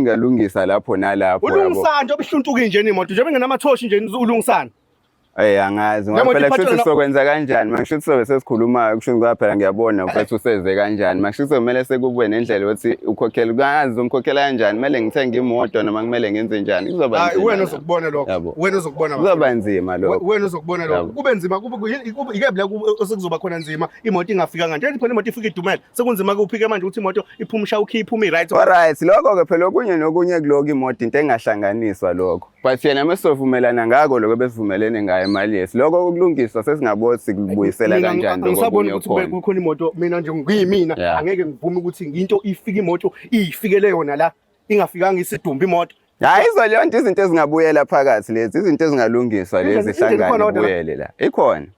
ngalungisa lapho nalapho yabo ulungisana nje obuhluntuki nje nimoto nje bengenamathoshi nje ulungisana Eh angazi ngoba Njengoba phela iphathwa kushuthi na- sokwenza kanjani makushuthi sobe sesikhulumayo kushuthi ngoba phela ngiyabona mfethu useze kanjani makushuthi kumele sekube nendlela yokuthi ukhokhele kangazi uzomkhokhela kanjani kumele ngithenge imoto noma kumele ngenze njani kuzoba hayi nzima wena lokho. uzokubona lokho Yabo. wena uzokubona bafo. kuzoba nzima We- lokho wena uzokubona lokho Yabo. kube nzima kube- kube- ike bla kube- osekuzoba khona nzima imoto ingafikanga nje phela imoto ifika idumele sekunzima kuphi ke manje ukuthi imoto iphume isha ukhiye iphume i-right Alright, lokho ke phela okunye nokunye kuloko imoto into engahlanganiswa lokho. But yena mesizovumelana ngako lokho besivumelene ngayo imali yethu. Lokho ukulungiswa sesingaboni sikubuyisela Mina kanjani lokho angisaboni okunye ukuthi kube okhona. kukhona imoto mina nje ngiyimina Yeah. angeke ngivume ukuthi into ifike imoto iyifikele yona la ingafikanga isidumba imoto Hayi izo leyo nto izinto ezingabuyela phakathi lezi, izinto ezingalungiswa lezi Indlela- indlela ikhona zihlangane kodwa la? kubuyele la. Ikhona.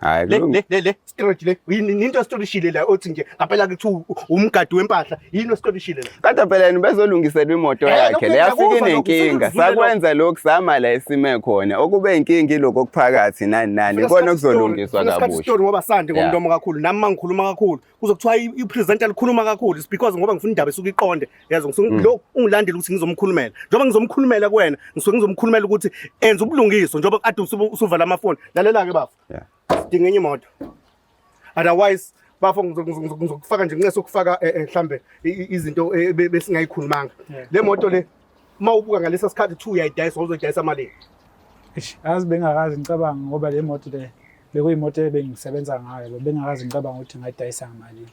Hayi le le le le storage le into storishile la othi nje ngapela kuthi umgadi wempahla yini ostorishile la kade phela yena bezolungiselwa imoto eh, yakhe le yafike nenkinga sakwenza lokhu sama la esime khona okube inkinga iloko okuphakathi nani nani ikona okuzolungiswa kabusha story ngoba sande ngomntomo kakhulu nami mangikhuluma kakhulu kuzokuthiwa ipresenter likhuluma kakhulu is because ngoba ngifuna indaba esuke iqonde yazi ngisuke mm. lo ungilandela ukuthi ngizomkhulumela njengoba ngizomkhulumela kuwena ngisuke ngizomkhulumela ukuthi enza ubulungiswa njengoba kade usuvala amafoni lalela ke bafo sidinga enye imoto otherwise bafo ngizokufaka nje nginqese ukufaka eh, eh, mhlambe izinto eh, besingayikhulumanga le moto le uma ubuka ngalesa sikhathi kuthiwa uyayidayisa wawuzoyidayisa malini Eish, yazi bengakazi ngicabanga ngoba le moto le bekuyimoto ebengisebenza ngayo bengakazi ngicabanga ukuthi ngayidayisa ngamalini